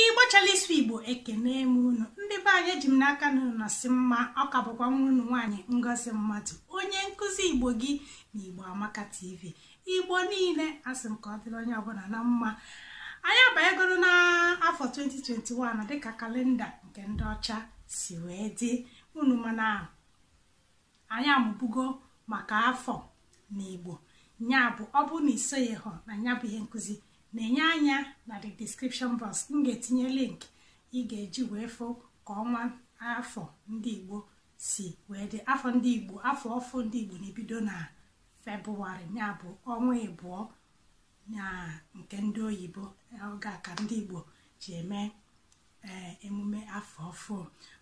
ịgbachala ịsụ igbo ekene m unu ndị be anyị eji m n'aka na unu nọsị mma ọ ka bụkwa nwa unu nwaanyị ngozi mmadụ onye nkụzi igbo gị na igbo amaka tv igbo niile asị m ka ọ dịrị onye ọbụla na mma anyị abanyegoro n'afọ 2021 dịka kalenda nke ndị ọcha si wee dị unu ma na anyị amụbugo maka afọ na igbo ya bụ ọ bụrụ na i soghị hụ na ya bụ ihe nkụzi nenye anya na the description box m ga-etinye link ị ga-eji wee fụ ka ọnwa afọ ndị igbo si wee dị afọ ndị igbo afọ ọfụ ndị igbo na-ebido na febụwarị ya bụ ọnwa ịbụọ na nke ndị oyibo oge a ka ndị igbo ji eme ee emume afọ ọfụ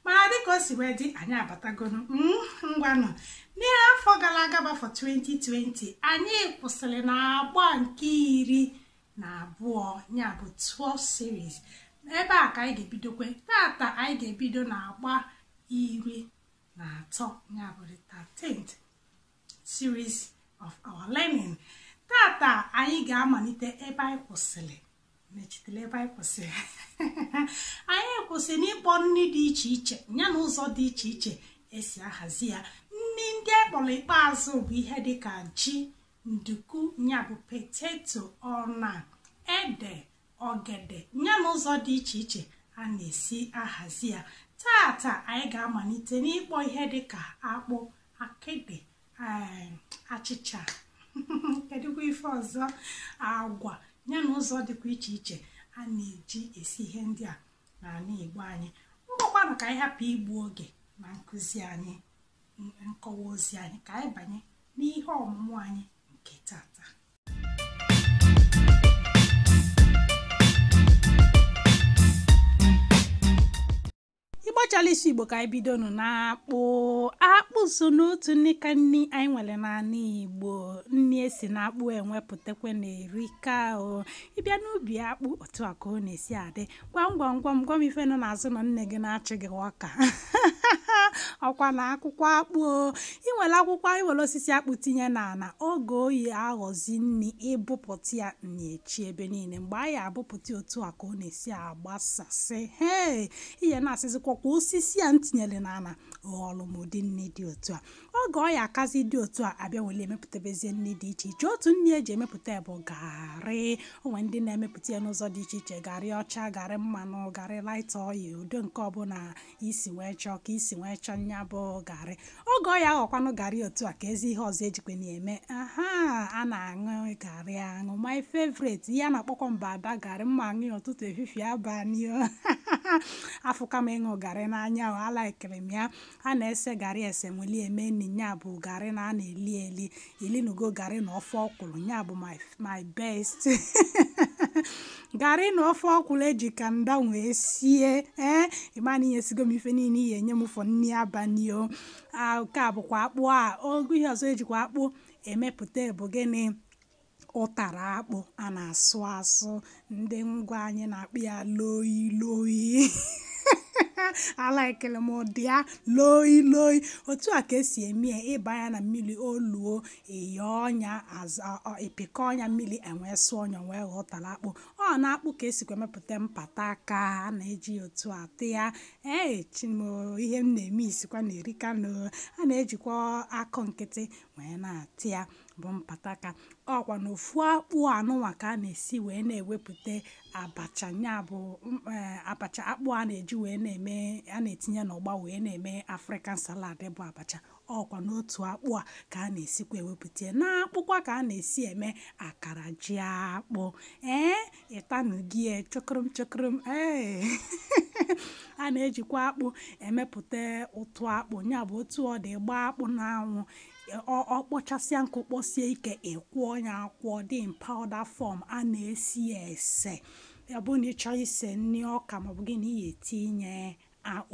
mana dịka o si wee dị anyị abatagonu mm, ngwanụ n'ime afọ gara aga bụ afọ 2020 anyị kwụsịrị na agba nke iri na abụọ ya bụ 12th series ebe a ka anyị ga-ebidokwe tata anyị ga-ebido na agba iri na atọ ya bụ the 13th series of our learning tata anyị ga-amalite ebe anyị kwụsịrị mechitela ebe anyị kwụsịrị anyị kwụsị n'ịkpọ nri dị iche iche ya na ụzọ dị iche iche esi ahazi ya nri ndị a kpọrọ ikpeazụ bụ ihe dịka ji nduku ya bụ poteto ọna ede ogede ya na ụzọ dị iche iche a na-esi ahazi ya tata anyị ga-amalite n'ịkpọ ihe dịka akpụ akịdị achịcha kedụkwa ife ọzọ agwa ya na ụzọ dịkwa iche iche a na-eji esi ihe ndị a n'ala Igbo anyị ngwakwanụ ka anyị hapụ igbu oge na nkụzi anyị nkọwa ozi anyị ka anyị banye n'ihe ọmụmụ anyị nke tata ịgbachala isi igbo ka anyị bidonu na akpụ akpụ so n'otu nri ka nri anyị nwere n'ala igbo nri esi na akpụ enwepụtakwa na-erika o ị bịa n'ubi akpụ otu a ka ọ na-esi adị gwa m gwa m gwa m gwa m ife nọ n'azụ ụnọ nne gị na-achị gị ọka ọ kwa na akwụkwọ akpụ o ị were akwụkwọ ị were osisi akpụ tinye n'ala oge ọ ya-aghọzi nri ị bụpụta ya na-echi ebe niile mgbe a ya-abụpụta otu a ka ọ na-esi abụ agbasasị hee ị ya na-asịzikwa ọ kwa osisi a m tinyere n'ala ghọrọ m ụdị nri dị otu a oge ọ ya-akazi dị otu a a bịa were emepụtabezie nri dị iche iche otu nri eji emepụta bụ garị o nwe ndị na-emepụta ya n'ụzọ dị iche iche garị ọcha garị mmanụ garị light oil ụdị nke ọbụla isi wee chọọ ka isi wee chọọ nya bụ garị oge ọ ya aghọkwanụ garị otu a ka ezi ihe ọzọ ejikwe na-eme aha a na-aṅụ garị aṅụ my favorite ihe a na-akpọkwa mbada garị m ma aṅụ ya ụtụtụ efifie abalị o afụka m ịṅụ garị n'anya o alaikiri m ya a na-ese garị ese weli eme nni ya bụ garị na a na-eli eli i linugo garị na ofe ọkwụrụ ya bụ my my best garị na ofe ọkwụrụ eji kanda wee sie ee ị ma na inyesigo m ife niile ị ya-enye m for nri abalị o Ah, nke a bụkwa akpụ a okay ihe ọzọ ejikwa akpụ emepụta bụ gịnị ụtara akpụ a na-asụ asụ ndị ngwa anyị na-akpọ ya loi loi alaikele m ụdị ya loi loi otu a ka esi eme ya ị baa ya na mmiri o luo ị yọọ nya ị pịkọọ nya mmiri e wee sụọ nya wee ghọọ ụtara akpụ ọ na akpụ ka esikwa emepụta mpataka a na-eji ya otu ata ya ee chi m o ihe m na-eme isikwa na erika na a na-ejikwa akụ nkịtị wee na-ata ya bụ mpataka ọkwa na ofu akpụ a nụnwa ka a na-esi wee na-ewepụta abacha ya bụ abacha akpụ a na-eji wee na-eme a na-etinye ụgba wee na-eme african salad bụ abacha ọkwa n'otu akpụ a ka a na-esikwa ewepụta ya n'akpụkwa ka a na-esi eme akara jiakpụ ee ị tanugo ya chọkụrụm chọkụrụm ee a na-ejikwa akpụ emepụta ụtụ akpụ ya bụ otu ọ dị gbaa akpụ n'anwụ Ọ kpọchasịa nkụ kpọsie ike, ị kwọọ ya akwọ ọ dị in powder form, a na-ese ya ese. Ọ bụrụ na ị chọọ ise nri ọka maọbụ gịnị, ị ga-etinye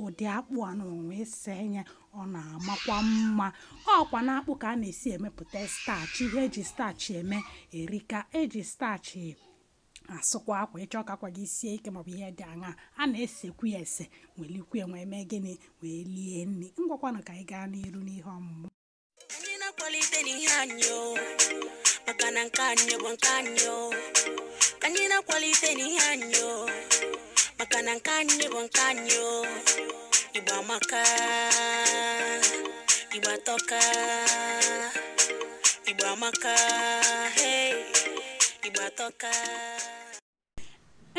ụdị akpụ a nụnwa wee see ya, ọ na-amakwa mma. Ọkwa n'akpụ ka a na-esi emepụta starch. Ihe eji starch eme erika. Eji starch asụkwa akwa ị chọọ ka akwa gị sie ike maọbụ ihe dị aṅa a na-esekwu ya ese welikwu ya wee mee gịnị wee lie nri ngwakwanụ ka anyị gaa n'iru n'ihe ọmụmụ anyị na-akwalitenụ ihe anyị o maka na nke anyị bụ nke anyị o ka anyị na-akwalitenụ ihe anyị o maka na nke anyị bụ nke anyị o Igbo amaka Igbo atọka Igbo amaka hey Igbo atọka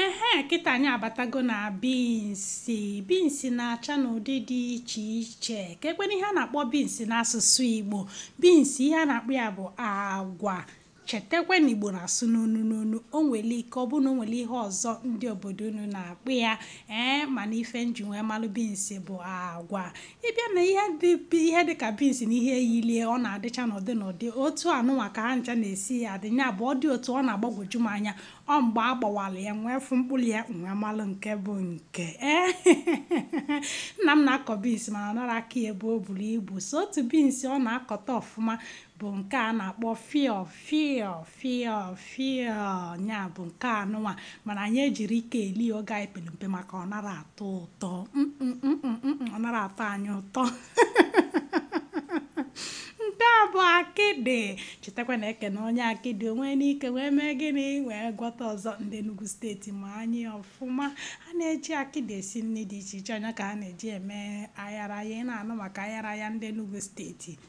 ehe kịta anyị abatago na binsi binsi na-acha n'ụdị dị iche iche kee kwanụ ihe a na-akpọ binsi n'asụsụ Igbo binsi ihe a na-akpọ ya bụ agwa Chetakwa na Igbo na-asụ n'onu n'onu. O nwere ike ọ bụrụ na o nwere ihe ọzọ ndị obodo unu na-akpọ ya ee mana ife nji wee malụ binsi bụ agwa. Ị bịa na ihe dị ihe dị ka binsi na ihe yili e ọ na-adịcha n'ụdị n'ụdị otu anụnwa ka ha ncha na-esi ya adị ya bụ ọ dị otu ọ na-agbagwoju m anya ọ mgbe a gbawara ya wee fụ mkpụrụ ya nwee malụ nke bụ nke ee nna m na-akọ binsi mana ọ nara akọ ya ebe o buru ibu sọ otu binsi ọ na-akọta ọfụma bụ nke a na-akpọ fịọ, fịọ, fịọ, fịọ, nya bụ nke anụnwa mana anyị ejiri ike eli oge anyị pere mpe maka ọ nara atọ ụtọ ọ nara atọ anyị ụtọ nke a bụ akịdị chetakwa na e kene onye akịdị o nwee ike wee mee gịnị wee gwọta ọzọ ndị Enugu steeti ma nya ọfụma a na-eji akịdị esi nri dị iche iche ọ nya ka a na-eji eme ayaraya ị na-anụ maka ayaraya ndị Enugu steeti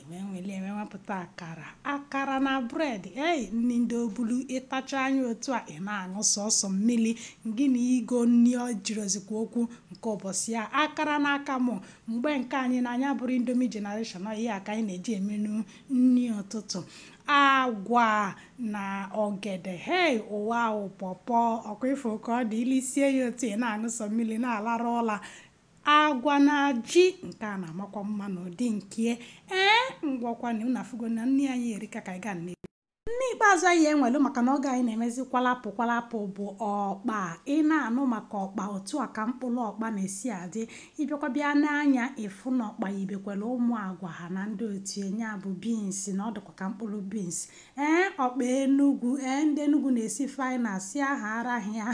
Iwe nwere iwe wepụta akara akara na bred ei nri ndị ọ bụlụ ị tachaa nya otu a ị na-aṅụ sọsọ mmiri gị na igo nri ọ jirozikwa okwu nke ụbọchị a akara na akamụ mgbe nke anyị na anyị abụrọ Indomie generation ọ ihe a ka anyị na-eji emenu nri ụtụtụ agwa na ọgede hei ụwa ahụ pọpọ ọ kwa ị fụ ka ọ dị i lisie ya otu ị na-aṅụ sọ mmiri na-alarụ ụla Agwa na ji, nke a na-amakwa mma n'ụdị nkie. Ee, ngwakwanụ, unu afụgo na nri anyị erika, ka anyị gaa na nri ikpeazụ anyị nwelu maka na oge anyị na-emezi kwalapụ kwalapụ bụ ọkpa. Ị na-anụ maka ọkpa, otu a ka mkpụrụ ọkpa na-esi adị. Ị bịakwa bịa nee anya, ị fụ na ọkpa yibekwara ụmụ agwa ha na ndị otu ya, nya bụ beans, na ọ dịkwa ka mkpụrụ beans. Ee ọkpa Enugwu, ee ndị Enugwu na-esi faịna sịa ha arahịa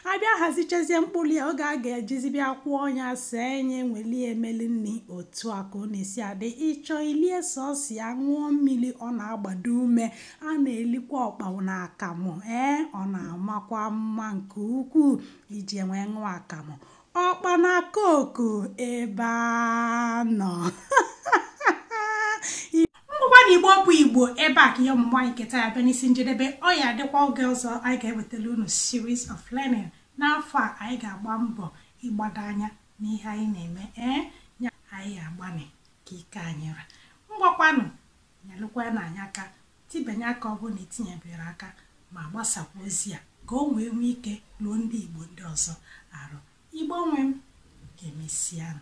a bịa hazichazie mkpụrụ ya oge a ga-ejizi bịa kwọọ nya sie nya weli e melu nri otu a ka ọ na-esi adị ị chọọ ili e sọsọ ya ṅụọ mmiri ọ na-agbado ume a na-elikwa ọkpa na akamụ ee ọ na-amakwa mma nke ukwuu iji e wee ṅụọ akamụ Ọkpa na koku ebe a nọ. Ngwakwanụ Igbo bụ Igbo ebe a ka ihe ọmụmụ anyị nke taa bịa n'isi njedebe ọ ya adịkwa oge ọzọ anyị ga-ewetara unu series of learning n'afọ a anyị ga-agba mbọ ịgbado anya n'ihe anyị na-eme ee ya anyị ga-agbanị ka ike anyị ra ngwakwanụ Nyelụkwanụ anyị aka tibanye aka ọ bụrụ na i tinyeberọ aka ma gbasakwa ozi a ka o wee nwee ike ruo ndị Igbo ndị ọzọ arụ. Igbo nwe m, ka e mesịanụ.